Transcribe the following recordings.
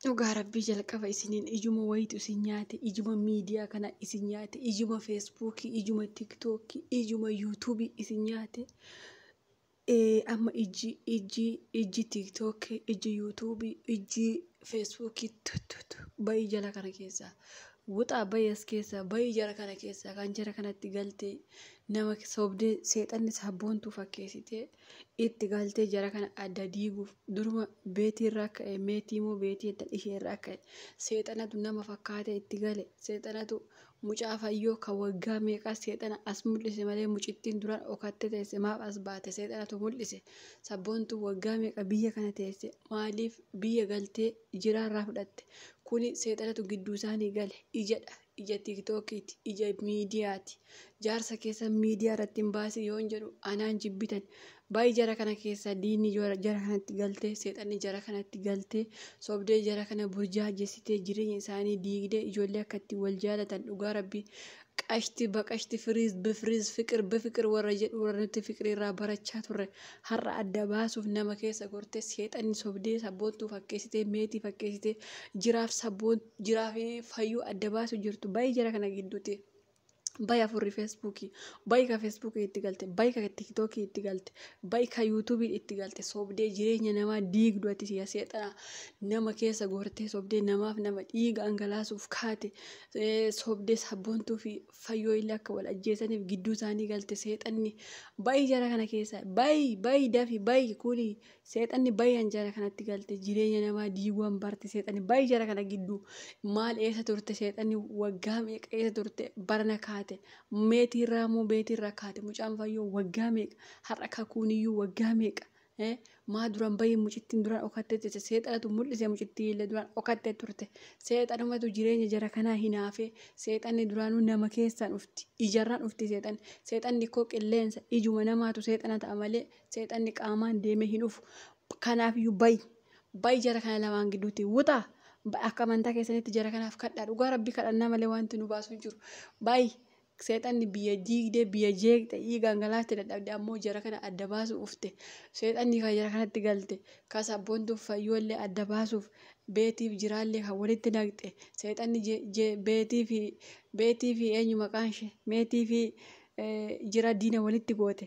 Dhugaa rabbii jalqaba isiniin ijuma wayitu isin nyaate ijuma miidiyaa kana isin nyaate ijuma feesbuukii ijuma tiktookii ijuma yuutuubii isin nyaate Eh, amma ijji ijji ijji tiktookii ijji yuutuubii ijji feesbuukii tuttutu bayii jala kana keessaa wuxaa bayii as keessaa bayii jara kana keessaa kan jara kanatti galtee nama sobdee seexanni sabboontuu fakkeessitee itti galtee jara kana adda diiguuf duruma beetii irraa ka'e meetii immoo beetii edda ishee irraa ka'e seexanatu nama fakkaatee itti gale seexanatu mucaa fayyoo kan waggaa meeqaa seexana as mul'ise malee mucittiin duraan okattee teesse maaf as baate seexanatu mul'ise sabboontu waggaa meeqa biyya kana teesse maaliif biyya galtee jiraa irraa fudhatte kuni seexanatu gidduu isaanii gale ijadha ija tiiktookiiti ija miidiyaati jaarsa keessa miidiyaa irratti hin baase yoon jedhu anaan jibbitan baay'ee jara kana keessa diinni jara jara kanatti galtee seexanni jara kanatti galtee sobdee jara kana burjaajessitee jireenya isaanii diigdee ijoollee akkatti wal jaalatan dhugaa rabbii qashti baqashti firiiz bifiriiz fiqir bifiqir warra jedhu warra nuti fiqirii irraa barachaa turre har'a adda baasuuf nama keessa gortee seexanni sobdee sabboontuu fakkeessitee meetii fakkeessitee jiraaf sabboontuu jiraa fi fayyuu adda baasu jirtu bayi jara kana gidduuti bayi afurri feesbuukii bayi ka feesbuukii itti galte bayi ka tiiktookii itti galte bayi ka yuutuubii itti galte sobdee jireenya namaa diigdu ati siya seexana nama keessa gortee sobdee namaaf nama dhiiga angalaasuuf kaate eh, sobdee sabboontuu fi fayyoo illee akka wal ajjeesaniif gidduu isaanii galte seexanni bayi jara kana keessa bayi bayi dafi bayi kuni Seexanni baay'een jara kanatti galte jireenya namaa diiguwan barte seexanni baay'ee jara kana gidduu maal eessa turte seexanni waggaa meeqa eessa turte barana kaate meetii irraa moo beetii irraa kaate mucaan fayyoo waggaa meeqa har'a kakuun iyyuu waggaa meeqa eh, maa duraan baay'ee mucittiin duraan okattee turte seexanatu mul'ise mucittii illee duraan okattee turte seexanumatu jireenya jara kanaa hinaafee seexanni duraanuu nama keessaan dhufti ijarraan dhufti seexanni seexanni koo qilleensa ijuma namaatu seexana ta'a malee Seexanni qaamaan deemee hin dhufu. Kanaaf iyyuu bayi. Bayi jara kana lamaan gidduutti. Wuxaa. Bayi akka amantaa keessanitti jara kanaaf kadhaa. Dhugaa rabbii kadhannaa malee wanti nu baasu hin jiru. Bayi. Seexanni biyya diigdee biyya jeeqxe dhiigaan galaafte dadhabde ammoo jara kana adda baasuu ufte. Seexanni kan jara kanatti galte kan sabboontuuf fayyoollee adda baasuuf beetiif jiraallee kan walitti naqxe seexanni je- je- beetii fi beetii fi eenyu maqaan ishee meetii fi eh, jira diina walitti goote.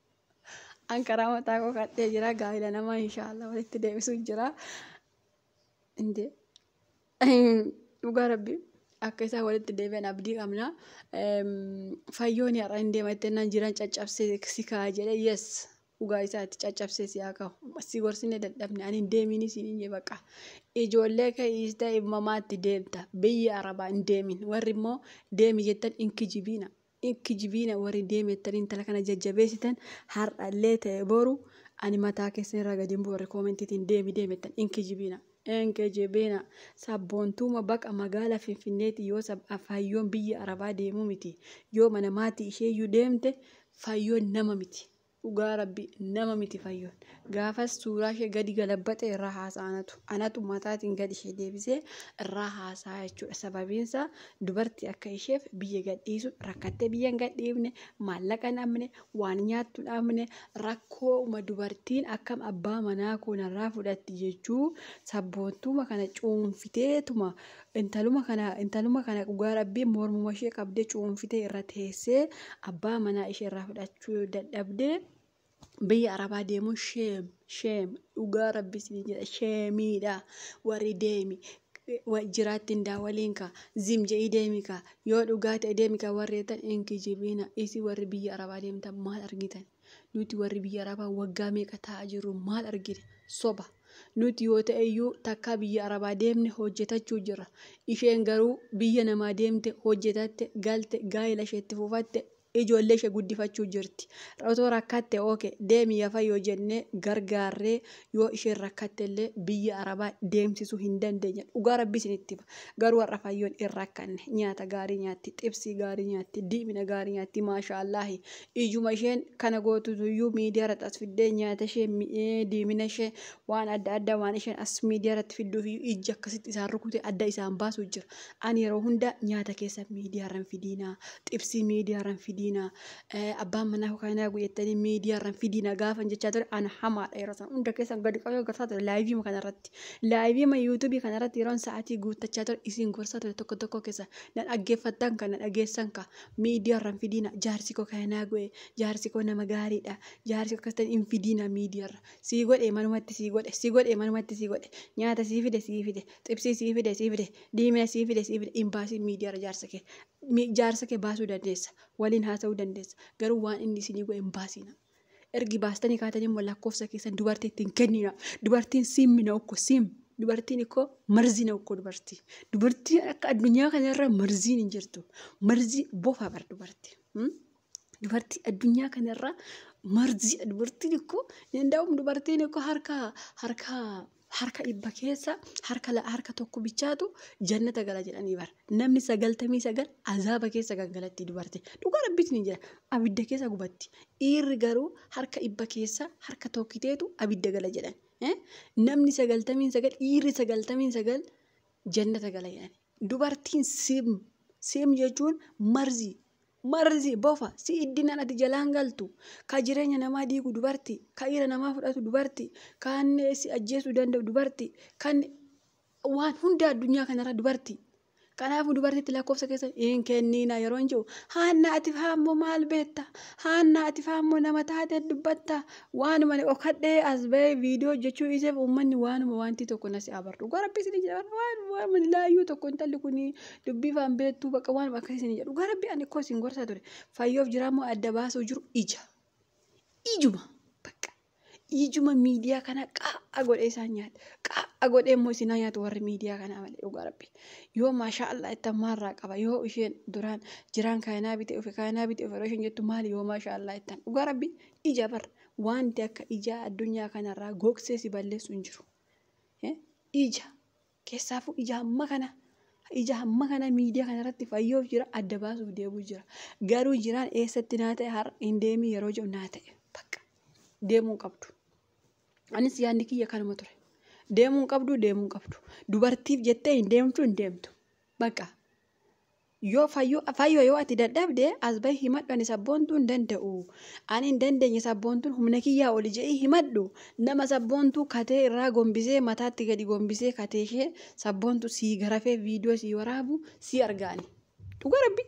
An karaa mataa koo kadhee jira gaa'ila namaa inshaallah walitti deebisuu jira. Inde dhugaa rabbi akka isaa walitti deebi'an abdii qabna. Fayyoon har'a hin deemattee nan jiran caccabsee si kaa jedhe yes dhugaa isaati caccabsee si haa kahu. Si gorsine dadhabne ani hin deemiin isin hin jee baqa. Ijoollee kee dhiistee ilmamaatti deemta biyya arabaa hin deemin warri immoo deemi jettan hin kijibiina. Hin kijibiina warri deemettan intala kana jajjabeessitan har'allee ta'e boru ani mataa keessan irraa gadi hin bu'u warri koomentiitiin deemi deemettan hin kijibiina. Hin kijibiina sabboontuuma baqa magaala finfinneeti yoo sab fayyoon biyya arabaa deemuu miti yoo mana maati isheeyyuu deemte fayyoon nama miti dhugaa rabbi nama miti fayyoon gaafas suuraa ishee gadi galabbaxe irraa haasaa anatu anatu mataatiin gadi ishee deebisee irraa haasaa jechuudha sababiinsa dubarti akka isheef biyya gadhiisu rakkattee biyya hin gadhiifne maallaqa hin dhabne waan nyaattu hin dhabne rakkoo uma dubartiin akkam abbaa manaa koo narraa fudhatti jechuu sabboontuuma kana cuunfiteetuma Intaluma kana intaluma kana dhugaa rabbii mormuma ishee qabdee cuunfitee irra teessee abbaa manaa ishee irraa fudhachuu yoo dadhabdee biyya arabaa deemuun sheem sheem dhugaa rabbii isinii jedha sheemiidha warri deemi wa- jiraatti indaa waliin ka zim je'ii deemi ka yoo dhugaa ta'e deemi ka warri jettan hin kijibiina isi warri biyya arabaa deemtan maal argitan Nuti warri biyya Arabaa waggaa meeqa taa'aa jirru maal argine? Soba. Nuti yoo ta'e iyyuu takkaa biyya Arabaa deemne hojjetachuu jirra. Isheen garuu biyya namaa deemte hojjetatte galte gaa'ela isheetti fufatte ijoollee ishee guddifachuu jirti. Otoo rakkatte oke deemi yaa fayyoo jennee gargaarree yoo isheen rakkatte illee biyya arabaa deemsisuu hin dandeenye dhugaa rabbii isinitti hima garuu har'a fayyoon hin rakkanne nyaata gaarii nyaatti xibsii gaarii nyaatti diimina gaarii nyaatti maashaa allaahi ijuma isheen kana gootutu iyyuu miidiyaa irratti as fiddee nyaata ishee mi- ee, diimina ishee waan adda addaa waan isheen as miidiyaa irratti fidduuf iyyuu ijji akkasitti isaan rukute adda isaan baasuu jira ani yeroo hunda nyaata keessa miidiyaa irra hin fidiinaa xibsii miidiyaa irra hin fidiinaa Eh, abbaan manaa koo kana nagu jettanii miidiyaa irraan fidii na gaafan jechaa ture ana hamaadha yeroo sana hunda keessan gadi qabee gorsaa ture laayivii kana irratti laayivii ma yuutuubii kana irratti yeroon sa'aatii guuttachaa ture isin gorsaa ture tokko tokko keessa na dhaggeeffattan kan na dhageessan ka miidiyaa irraan fidiina jaarsi koo kana nagu jaarsi koo nama gaariidha jaarsi koo akkasitan hin fidiina miidiyaa irra sii godhe manumatti sii godhe sii godhe manumatti sii godhe nyaata sii fide sii fide xibsii sii fide sii fide diimina sii fide sii fide hin baasiin miidiyaa irra jaarsa kee mi- jaarsa kee baasuu dandeessa waliin haasa'uu dandeessa. Garuu waan inni isinii godhe hin baasina. Ergi baastanii kaatanii immoo lakkoofsa keessan dubartiitti hin kennina. Dubartiin siimmi na ukko siim. Dubartiin ikkoo marzii na ukko dubartii. Dubartiin akka addunyaa kanarra marziin hin jirtu. Marzii bofa bar dubartii. Hmm? Dubartii addunyaa kanarra marziidha. Dubartiin ikkoo hin danda'amu dubartiin ikkoo harka harka harka dhibba keessa harka la- harka tokko bichaatu jannata gala jedhanii bar namni sagaltamii sagal azaaba keessa kan galatti dubarte dhugaa rabbiitiin hin jira abidda keessa gubatti dhiirri garuu harka dhibba keessa harka tokkiteetu abidda gala jedhan Eh? namni sagaltamiin sagal dhiirri sagaltamiin sagal jannata gala jedhan dubartiin sim sim jechuun marzii Marzi, bofa, si'iddinaan ati jalaan galtu, ka jireenya namaa diigu dubarti, ka ira namaa fudhatu dubarti, kaan si ajjeesuu danda'u dubarti, kan waan hunda addunyaa kanarra dubarti. Kanaafuu dubartitti lakkoofsa keessa hin kenniina yeroo hin jiru. Haannaa ati faammoo maal beetta? Haannaa ati faammoo nama taatee dubbatta? Waanuma dhokadhee as ba'ee viidiyoo hojjechuu dhiiseef uummanni waanuma waantii tokko nasi abartu. Gorabbisni jedhama waan waan laayyuu tokko intalli kun dubbii faan beektuu bakka waan akka isin jedhu gara rabbi ani koo isin gorsaa ture fayyoof jiraa moo adda baasuu jiru ija ijuma bakka ijuma miidiyaa kana qaa'a godhee isaan nyaata qaa'a godhee immoo isin haa nyaatu warri miidiyaa kanaa malee dhugaa rabbi yoo maashaa allah itti ammaarraa qaba yoo isheen duraan jiraan kaayinaa bitee dhufe kaayinaa bitee dhufe yeroo isheen jettu maali yoo maashaa allah ittan dhugaa rabbi ija bar wanti akka ijaa addunyaa kanarraa gogsee si balleessu hin jiru Eh, ija Keessaafuu ija hamma kana ija hamma kana miidiyaa kana irratti fayyoof jira adda baasuuf deemuu jira. Garuu jiraan eessatti naa ta'e har'a hin deemii yeroo jedhu naa ta'e bakka deemuu hin qabdu. Anis yaadni kiyya kanuma ture. Deemuu hin qabdu deemuu hin qabdu. Dubartiif jettee hin deemtu hin deemtu. Bakka Yoo fayyoo fayyoo yoo ati dadhabde as bahi himadhu ani sabboontuu hin danda'u ani hin dandeenye sabboontuun humna kiyyaa oli je'ii himadhu nama sabboontuu katee irraa gombisee mataatti gadi gombisee katee ishee sabboontuu sii garafee viidiyoo sii waraabu sii argaani dhugaa rabbi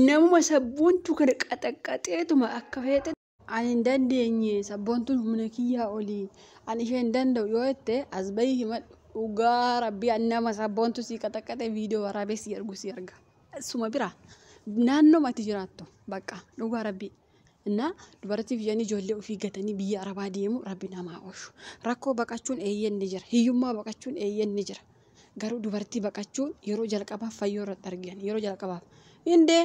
namuma sabboontuu kana qaxaqqaxeetuma akka feete Ani hin dandeenye, sabboontuun humna kiyyaa oli. Ani ishee hin danda'u yoo jette as bahii himadhu. Dhugaa rabbii ani nama sabboontuu sii qaxaqaxee viidiyoo waraabee sii ergu sii erga. Suma bira naannoo mati jiraattu bakka dhugaa rabbii. Innaa dubartiif jedhanii ijoollee ofii gatanii biyya arabaa deemu rabbi namaa oolchu. Rakkoo baqachuun eeyyeen ni jira. Hiyyummaa baqachuun eeyyeen ni jira. Garuu dubartii baqachuun yeroo jalqabaaf fayyoo irratti argan yeroo jalqabaaf. Indee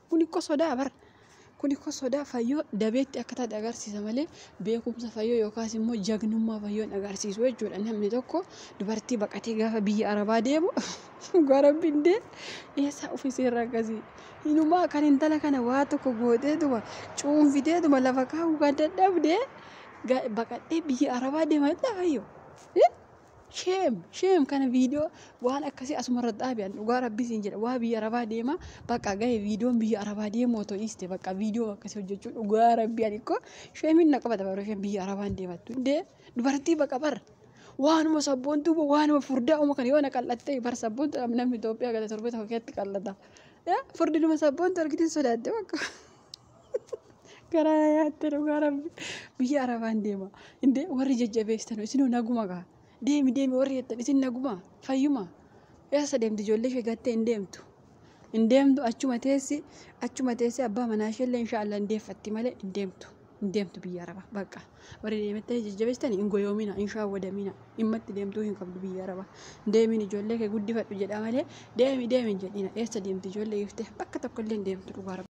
Kun ikko sodaa bar. Kun ikko sodaa fayyoo dabeetti akka taate agarsiisa malee beekumsa fayyoo yookaas immoo jagnummaa fayyoon agarsiisu jechuudha. Namni tokko dubartii baqatee gaafa biyya arabaa deemu dhugaa rabbiin dee eessaa ofii seerra akkasii. Inumaa kan intala kana waa tokko gooteetuma cuunfiteetuma lafa kaa'uu kan dadhabde baqadhee biyya arabaa deema jedhaa fayyoo. Sheem sheem kana viidiyoo waan akkasii asuma irra dhaabi an dhugaa rabbii siin jedha waa biyya arabaa deema bakka gahe viidiyoon biyya arabaa deemu otoo dhiiste bakka viidiyoo akkasii hojjechuu dhugaa rabbii ani koo sheemiin na qabata bara isheen biyya arabaa hin deemattu hundee dubartii baqa bara waanuma sabboontuu bo waanuma furdaa uma kana yoo na qal'attee bara sabboontu namni Itoophiyaa gada torbee tokko keessatti qal'ata furdinuma sabboontu argitiin sodaatte bakka. Garaa na nyaatte dhugaa rabbi. Biyya Arabaan deema. Indee warri jajjabeessitanu isinoo naguma gaa. Deemi deemi warri jettan isin naguma fayyuma. Eessa deemti ijoollee ishee gattee hin deemtu. Hin deemtu achuma teessi achuma teessi abbaa manaa ishee illee inshaallah hin deeffatti malee hin deemtu. Hin deemtu biyya Arabaa bakka. Warri deemettanii jajjabeessitani hin goyoomina hin shaawwadamina dhimmatti deemtuu hin qabdu biyya Arabaa. Deemiin ijoollee kee guddifadhu jedha malee deemi deemi hin jedhina. Eessa deemti ijoollee giftee bakka tokko illee hin deemtu dhugaa rabbi.